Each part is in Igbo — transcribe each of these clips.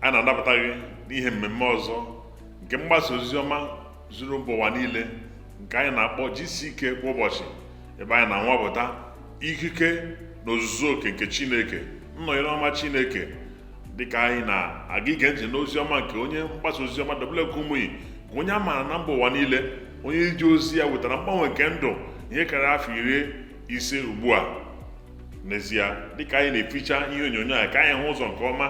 a na-anabata gị n'ihe mmemme ọzọ nke mgbasa ozi ọma zuru mba ụwa niile nke anyị na-akpọ GCK kwa ụbọchị ebe anyị na-anwapụta ikike na ozuzu oke nke Chineke nnọnyere ọma Chineke dịka anyị na-aga ige ntị n'ozi ọma nke onye mgbasa ozi ọma W.F. Kumuyi bụ onye a maara na mba ụwa niile onye ije ozi ya wetara mgbanwe nke ndụ ihe karịrị afọ iri ise ugbu a n'ezie dịka anyị na-eficha ihe onyonyo a ka anyị hụ ụzọ nke ọma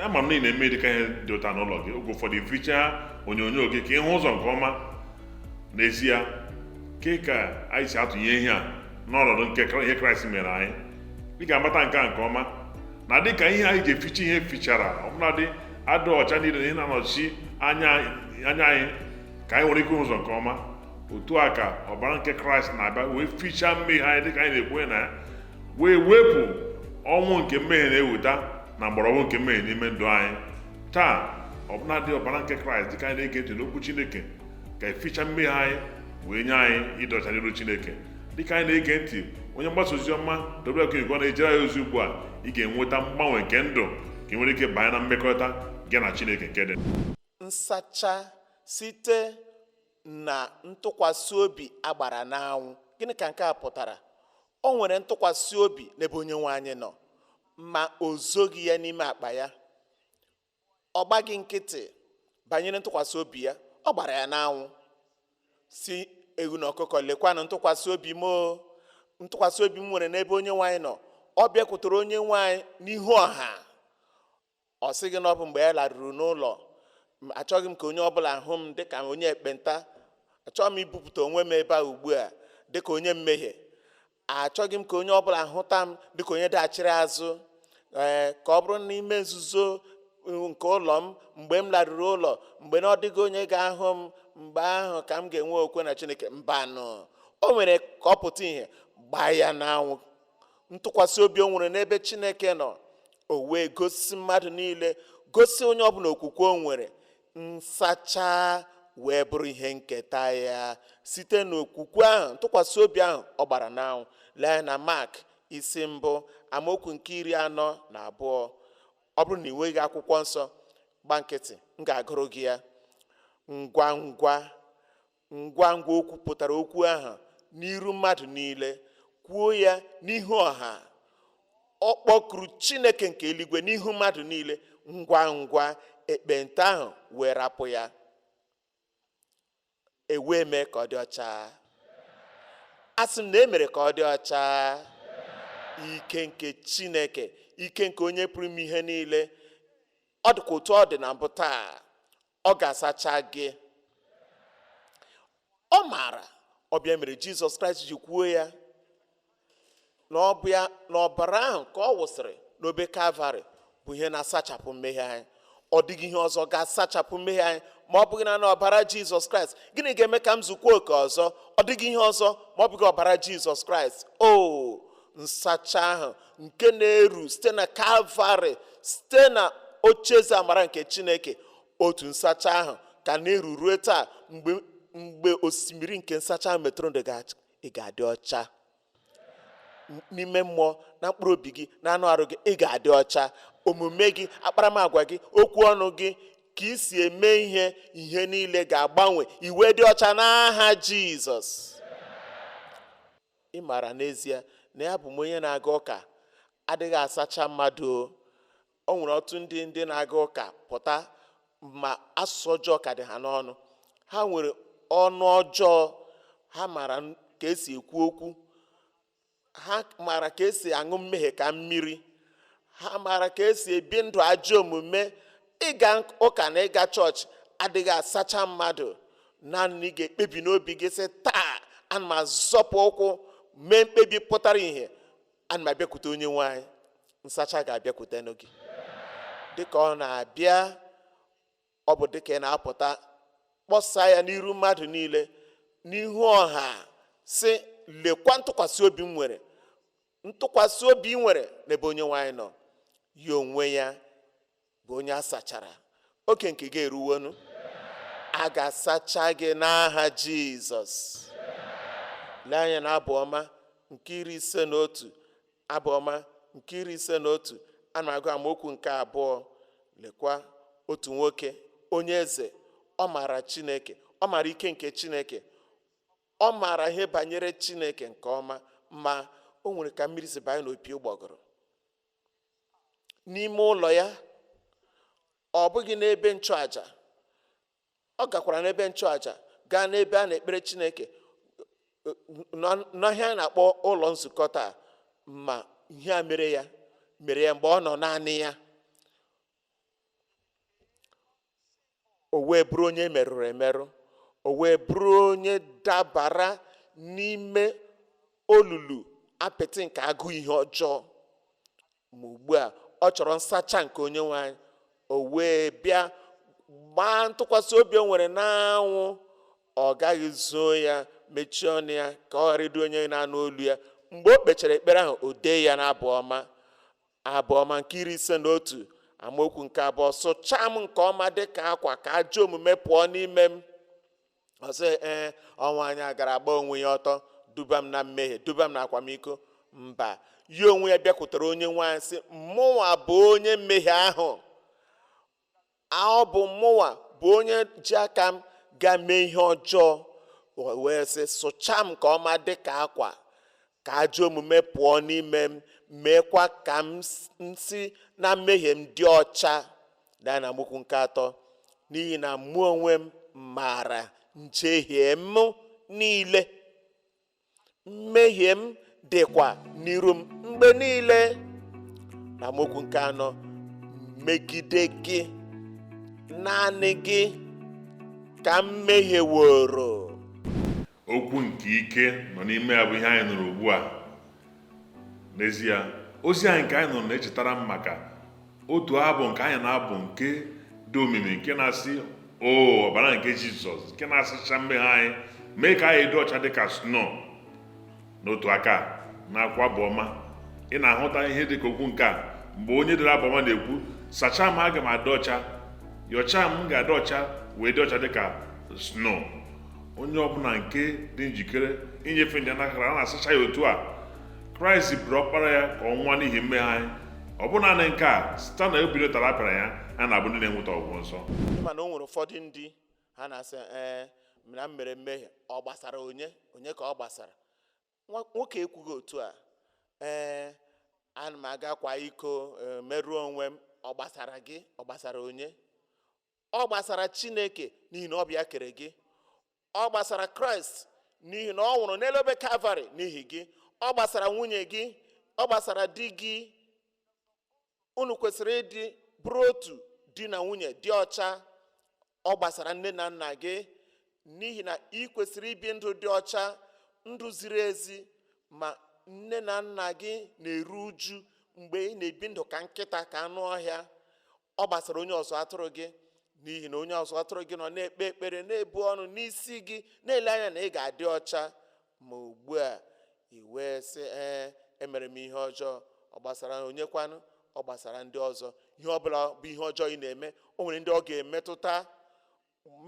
ama m na ị na-eme dịka ihe dị otu a n'ụlọ gị oge ụfọdụ ificha onyonyo gị ka ịhụ ụzọ nke ọma n'ezie ke ka anyị si atụnye ihe a n'ọnọdụ nke Kra- ihe kraịst mere anyị ị ga-amata nke a nke ọma na dịka ihe anyị ji eficha ihe fichara ọbụladị adịghị ọcha niile na ihe na-anọchi anya anyị ka anyị nwere ike hụ ụzọ nke ọma otu a ka ọbara nke kraịst na-abịa wee fichaa mmehie anyị dịka anyị na-ekwenye na ya wee wepụ ọnwụ nke mmehie na-eweta na mgbọrọgwụ nke mmehie n'ime ndụ anyị taa ọbụladị ọbara nke kraịst dịka anyị na-ege ntị n'okwu chineke ga-eficha mmehie anyị wee nye anyị ịdị ọcha n'iru chineke dịka anyị na-ege ntị onye mgbasa ozi ọma WK na-ejere anyị ozi ugbu a ị ga-enweta mgbanwe nke ndụ ka ị nwere ike banye na mmekọrịta gị na chineke nke dị nsacha site na ntụkwasị obi a gbara n'anwụ gịnị ka nke a pụtara o nwere ntụkwasị obi n'ebe onye nwe anyị nọ ma o zoghị ya n'ime akpa ya ọ gbaghị nkịtị banyere ntụkwasị obi ya ọ gbara ya n'anwụ sị ewu na ọkụkọ lekwanụ ntụkwasị obi m o ntụkwasị obi m nwere n'ebe onye nwe anyị nọ ọ bịakwutere onye nwe anyị n'ihu ọha ọ sịghị na ọ bụ mgbe ya laruru n'ụlọ achọghị m ka onye ọbụla hụ m dịka onye ekpenta achọghị m ibupụta onwe m ebe a ugbu a dịka onye mmehie achọghị m ka onye ọ bụla hụta m dịka onye daghachiri azụ ee ka ọ bụrụ n'ime nzuzo nke ụlọ m mgbe m laruru ụlọ mgbe na ọ dịghị onye ga-ahụ m mgbe ahụ ka m ga-enwe okwe na chineke mbanụ o mere ka ọ pụta ihe gbaa ya n'anwụ ntụkwasị obi o nwere n'ebe chineke nọ o wee gosi mmadụ niile gosi onye ọbụla okwukwe o nwere nsacha wee bụrụ ihe nketa ya site n'okwukwe ahụ ntụkwasị obi ahụ ọ gbara n'anwụ lee anya na mak isi mbụ amaokwu nke iri anọ na abụọ ọ bụrụ na ị nweghị akwụkwọ nsọ gba nkịtị m ga-agụrụ gị ya ngwa ngwa ngwa ngwa o kwupụtara okwu ahụ n'iru mmadụ niile kwuo ya n'ihu ọha ọ kpọkuru chineke nke eluigwe n'ihu mmadụ niile ngwa ngwa ekpenta ahụ wee rapụ ya e wee mee ka ọ dị ọcha a sị m na e mere ka ọ dị ọcha ike nke chineke ike nke onye pụrụ ime ihe niile ọ dịkwa otu ọ dị na mbụ taa ọ ga-asacha gị ọ maara ọ bụ ya mere jizọs kraịst ji kwuo ya na ọ bụ ya na ọbara ahụ ka ọ wụsịrị n'obe kalvarị bụ ihe na-asachapụ mmehie anyị ọ dịghị ihe ọzọ ga-asachapụ mmehie anyị ma ọ bụghị naanị ọbara jizọs kraịst gịnị ga-eme ka m zukwa oke ọzọ ọ dịghị ihe ọzọ ma ọ bụghị ọbara jizọs kraịst o nsacha ahụ nke na-eru site na kalvarị site na ocheeze amara nke chineke otu nsacha ahụ ka na-eru rue taa mgbe osimiri nke nsacha ahụ metụrụ ndụ gị ị ga-adị ọcha n'ime mmụọ na mkpụrụ obi gị na anụ arụ gị ị ga-adị ọcha omume gị akparamagwa gị okwu ọnụ gị ka ị si eme ihe ihe niile ga-agbanwe ị wee dị ọcha n'aha jizọs Ị maara n'ezie na abụ m onye na-aga ụka adịghị asacha mmadụ o. O nwere ọtụtụ ndị ndị na-aga ụka pụta ma asụsụ ọjọọ ka dị ha n'ọnụ. Ha nwere ọnụ ọjọọ, ha maara ka esi ekwu okwu, ha maara ka esi aṅụ mmehie ka mmiri, ha maara ka esi ebi ndụ ajọ omume ịga ụka na ịga chọọchị adịghị asacha mmadụ naanị ị ga-ekpebi n'obi gị sị taa ana m azọpụ ụkwụ mee mkpebi pụtara ihe ana m abịakwute onye nwe anyị nsacha ga-abịakwute gị dịka ọ na-abịa ọ bụ dịka ị na-apụta kpọsaa ya n'iru mmadụ niile n'ihu ọha sị lekwa ntụkwasị obi m nwere ntụkwasị obi ị nwere n'ebe onye nwe anyị nọ ya onwe ya bụ onye a sachara oge nke gị eruwonu a ga-asacha gị n'aha jizọs lee anya na abụ ọma nke iri ise na otu abụ ọma nke iri ise na otu a na-agụ amaokwu nke abụọ lekwa otu nwoke onye eze ọ maara chineke ọ maara ike nke chineke ọ maara ihe banyere chineke nke ọma ma o nwere ka mmiri si banye n'opi ụgbọgụrụ n'ime ụlọ ya ọ bụghị n'ebe nchụaja ọ gakwara n'ebe nchụaja gaa n'ebe a na-ekpere chineke n'ihe anyị na-akpọ ụlọ nzukọ taa ma ihe a mere ya mere ya mgbe ọ nọ naanị ya o wee bụrụ onye merụrụ emerụ o wee bụrụ onye dabara n'ime olulu apịtị nke agụụ ihe ọjọọ ma ugbu a ọ chọrọ nsacha nke onye nwe anyị o wee bịa gbaa ntụkwasị obi o nwere n'anwụ ọ gaghị zoo ya mechie ọnụ ya ka ọ ghara ịdị onye na-anụ olu ya mgbe o kpechara ekpere ahụ o dee ya n'abụ ọma abụ ọma nke iri ise na otu amaokwu nke abụọ sụchaa m nke ọma dị ka akwa ka ajọ omume pụọ n'ime m ọ sị ee ọ nwaanyị a gara gba onwe ya ọtọ duba m na mmehie duba m na akwamiko mba ya onwe ya bịakwutere onye nwe anyị sị mụnwa bụ onye mmehie ahụ ọ bụ mụnwa bụ onye ji aka m ga mee ihe ọjọọ wee sị sụchaa m nke ọma dị ka akwa ka ajọ omume pụọ n'ime m meekwa ka m si na mmehie m dị ọcha daa na amaokwu nke atọ n'ihi na mụ onwe m maara njehie m niile mmehie m dịkwa n'iru m mgbe niile na amaokwu nke anọ megide gị naanị gị ka m mehieworo okwu nke ike nọ n'ime ya bụ ihe anyị nụrụ ugbu a n'ezie ozi anyị nke anyị nụrụ na-echetara m maka otu abụ nke anyị na-abụ nke dị omimi nke na-asị o ọbara nke jizọs nke na-asacha mmehie anyị mee ka anyị dị ọcha dị ka sno n'otu aka n'akwụkwọ abụ ọma ị na-ahụta ihe dị ka okwu nke a mgbe onye dere abụ ọma na-ekwu sachaa m aga m adị ọcha yọchaa m ga-adị ọcha wee dị ọcha dị ka sno onye ọbụla nke dị njikere inyefe ndụ ya n'aka ya a na-asacha ya otu a kraịst bụrụ ọkpara ya ka ọ nwụọ n'ihi mmehie anyị ọ bụ naanị nke a site na ubiri ụtarị a pịara ya a na-abụ ndị na-enweta ọgwụgwọ nsọ mana o nwere ụfọdụ ndị ha na-asị ee na m mere mmehie ọ gbasara onye onye ka ọ gbasara Nwa- nwoke ekwughị otu a ee ana m aga kwaa iko ee, merụọ onwe m ọ gbasara gị ọ gbasara onye ọ gbasara chineke n'ihi na ọ bụ ya kere gị ọ gbasara kraịst n'ihi na ọ nwụrụ n'elu obe kalvarị n'ihi gị ọ gbasara nwunye gị ọ gbasara di gị unu kwesịrị ịdị bụrụ otu di na nwunye dị ọcha ọ gbasara nne na nna gị n'ihi na ị kwesịrị ibi ndụ dị ọcha ndụ ziri ezi ma nne na nna gị na-eru uju mgbe ị na-ebi ndụ ka nkịta ka anụ ọhịa ọ gbasara onye ọzụzụ atụrụ gị n'ihi na onye ọzụzụ atụrụ gị nọ na-ekpe ekpere na-ebu ọnụ n'isi gị na-ele anya na ị ga-adị ọcha ma ugbu a i wee sị ee emere m ihe ọjọọ ọ gbasara onye kwanụ ọ gbasara ndị ọzọ ihe ọ bụla bụ ihe ọjọọ ị na-eme o nwere ndị ọ ga-emetụta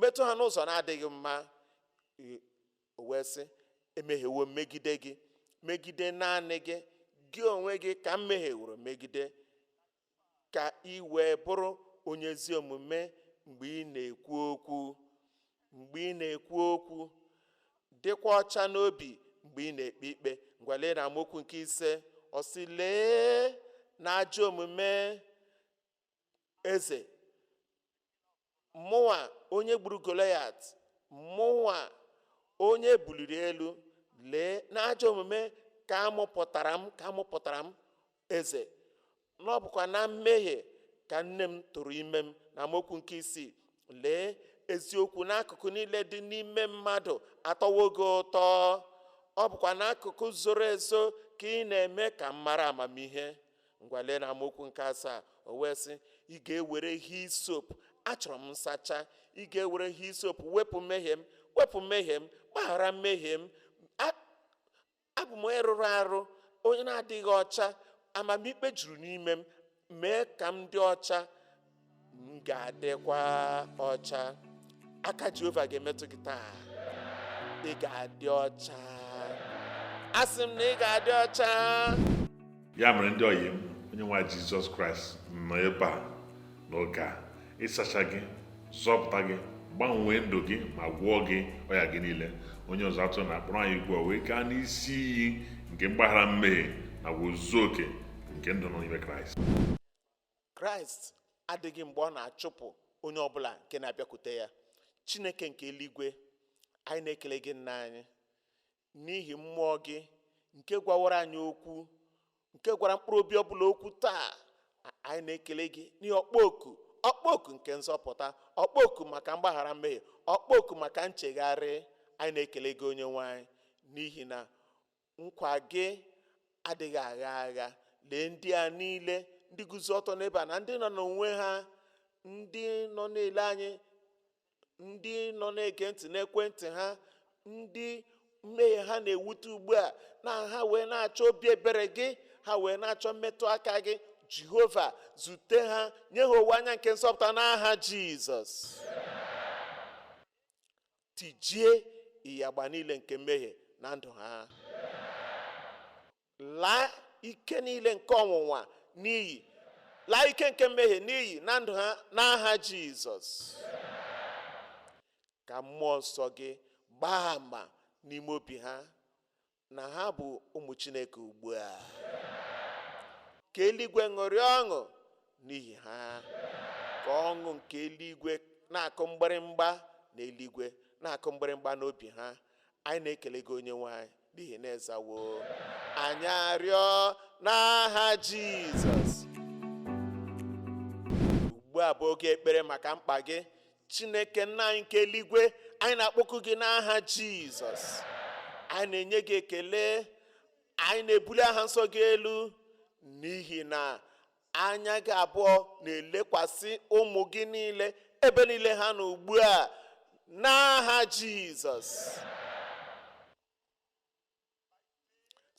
metụ ha n'ụzọ na-adịghị mma i- o wee sị emehiewo m megide gị megide naanị gị gị onwe gị ka m mehieworo megide ka ị wee bụrụ onye ezi omume mgbe ị na-ekwu okwu mgbe ị na-ekwu okwu dịkwa ọcha n'obi mgbe ị na-ekpe ikpe ngwa lee na amaokwu nke ise ọ sị lee n'ajọ omume eze Mụnwa onye gburu Golaịat, mụnwa onye e buliri elu, lee, n'ajọ omume ka a mụpụtara m ka a mụpụtara m eze, na ọ bụkwa na mmehie ka nne m tụrụ ime m. Na amaokwu nke isii, lee, eziokwu n'akụkụ niile dị n'ime mmadụ atọwo gị ụtọ, ọ bụkwa n'akụkụ zoro ezo ka ị na-eme ka m mara amamihe. ngwa lee na amaokwu nke asaa o wee sị ị ga-ewere hisop achọrọ m nsacha ị ga-ewere hisop wepụ mmehie m wepụ mmehie m gbaghara mmehie m A- abụ m onye rụrụ arụ onye na-adịghị ọcha amamikpe juru n'ime m mee ka m dị ọcha m ga-adịkwa ọcha aka jehova ga-emetụ gị taa ị ga-adị ọcha asị m na ị ga-adị ọcha ya mere ndị ọyị m onye nwe jizọs kraịst nọ ebe a n'oge a ịsacha gị zọpụta gị gbanwee ndụ gị ma gwọọ gị ọya gị niile onye ọzụzụ atụrụ na-akpọrọ anyị ugbu a wee gaa n'isi iyi nke mgbaghara mmehie na ozuzu oke nke ndụ nọ n'ime kraịst kraịst adịghị mgbe ọ na-achụpụ onye ọbụla nke na-abịakwute ya chineke nke eluigwe anyị na-ekele gị nna anyị n'ihi mmụọ gị nke gwawara anyị okwu nke gwara mkpụrụ obi ọbụla okwu taa a- anyị na-ekele gị n'ihi ọkpụkpọ oku ọkpụkpọ oku nke nzọpụta ọkpụkpọ oku maka mgbaghara mmehie ọkpụkpọ oku maka nchegharị anyị na-ekele gị onye nwe anyị n'ihi na Nkwa gị adịghị agha agha. Lee ndị a niile, ndị guzo ọtọ n'ebe a, na ndị nọ n'onwe ha, ndị nọ na-ele anyị, ndị nọ na-ege ntị n'ekwentị ha, ndị mmehie ha na-ewute ugbu a, na ha wee na-achọ obi ebere gị, ha wee na-achọ mmetụ aka gị. Jehova, zute ha, nye ha owuwe anya nke nzọpụta n'aha Jizọs. tijie ịyagba niile nke mmehie na ndụ ha laa ike niile nke ọnwụnwa n'iyi laa ike nke mmehie n'iyi na ndụ ha n'aha jizọs ka mmụọ nsọ gị gbaa ama n'ime obi ha na ha bụ ụmụ Chineke ugbu a ka eluigwe ṅụrịa ọṅụ n'ihi ha ka ọṅụ nke eluigwe na-akụ mgbịrịmgba na eluigwe na-akụ mgbịrịmgba n'obi ha anyị na-ekele gị onye nwe anyị n'ihi na ị zawo anyị arịọ n'aha Jizọs ugbu a bụ oge ekpere maka mkpa gị chineke nna anyị nke eluigwe anyị na-akpọku gị n'aha jizọs anyị na-enye gị ekele anyị na-ebuli aha nsọ gị elu n'ihi na anya gị abụọ na-elekwasị ụmụ gị niile ebe niile ha nọ ugbu a n'aha jizọs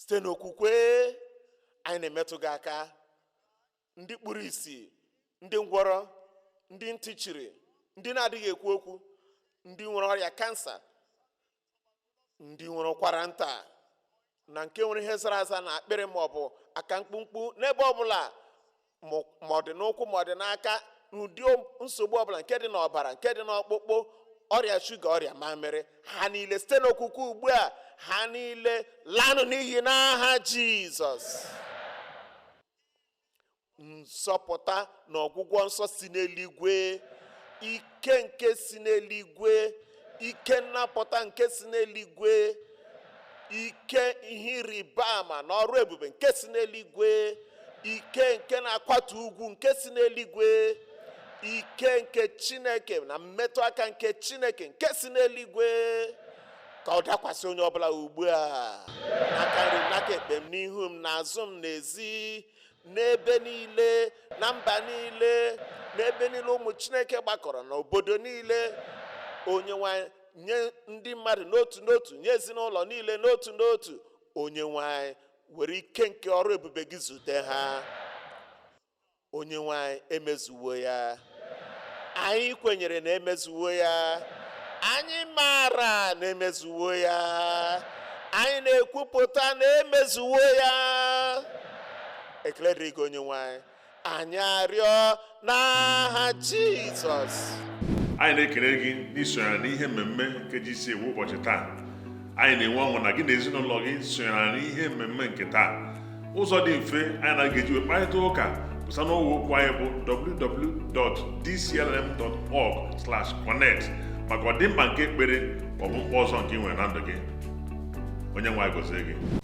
site n'okwukwe anyị na-emetụ gị aka ndị kpuru isi ndị ngwọrọ ndị ntị chiri ndị na-adịghị ekwu okwu ndị nwere ọrịa kansa ndị nwere ụkwara nta na nke nwere ihe zara aza na akpịrị ma ọ bụ aka mkpumkpu n'ebe ọbụla ma ọ dị n'ụkwụ ma ọ dị n'aka n'ụdị nsogbu ọbụla nke dị n'ọbara nke dị n'ọkpụkpụ ọrịa shuga ọrịa mamịrị ha niile site n'okwukwe ugbu a ha niile lanụ n'iyi n'aha jizọs nzọpụta na ọgwụgwọ nsọ si n'eluigwe ike nke si n'eluigwe ike nnapụta nke si n'eluigwe ike ihe ịrịba ama na ọrụ ebube nke si n'eluigwe ike nke na-akwatu ugwu nke si n'eluigwe ike nke chineke na mmetụ aka nke chineke nke si n'eluigwe ka ọ dakwasị onye ọbụla ugbu a n'aka nri m n'aka ekpe m n'ihu m n'azụ m n'ezi n'ebe niile na mba niile n'ebe niile ụmụ chineke gbakọrọ na obodo niile onye nwe anyị nye ndị mmadụ n'otu n'otu nye ezinụlọ niile n'otu n'otu onye nwe anyị were ike nke ọrụ ebube gị zute ha onye nwe anyị emezuwo ya anyị kwenyere na emezuwo ya anyị maara na emezuwo ya anyị na-ekwupụta na emezuwo ya ekele dịrị gị onye nwe anyị anyị arịọ n'aha jizọs anyị na-ekele gị n'isonyere n'ihe mmemme nke GCK kwa ụbọchị taa anyị na-enwe ọṅụ na gị na ezinụlọ gị sonyere n'ihe mmemme nke taa ụzọ dị mfe anyị na gị ga-eji wee kparịta ụka bụ site n'ọwa okwu anyị bụ www.dclm.org/connect maka ọdịmma nke ekpere maọbụ mkpa ọzọ nke i nwere na ndụ gị onye nwe anyị gọzie gị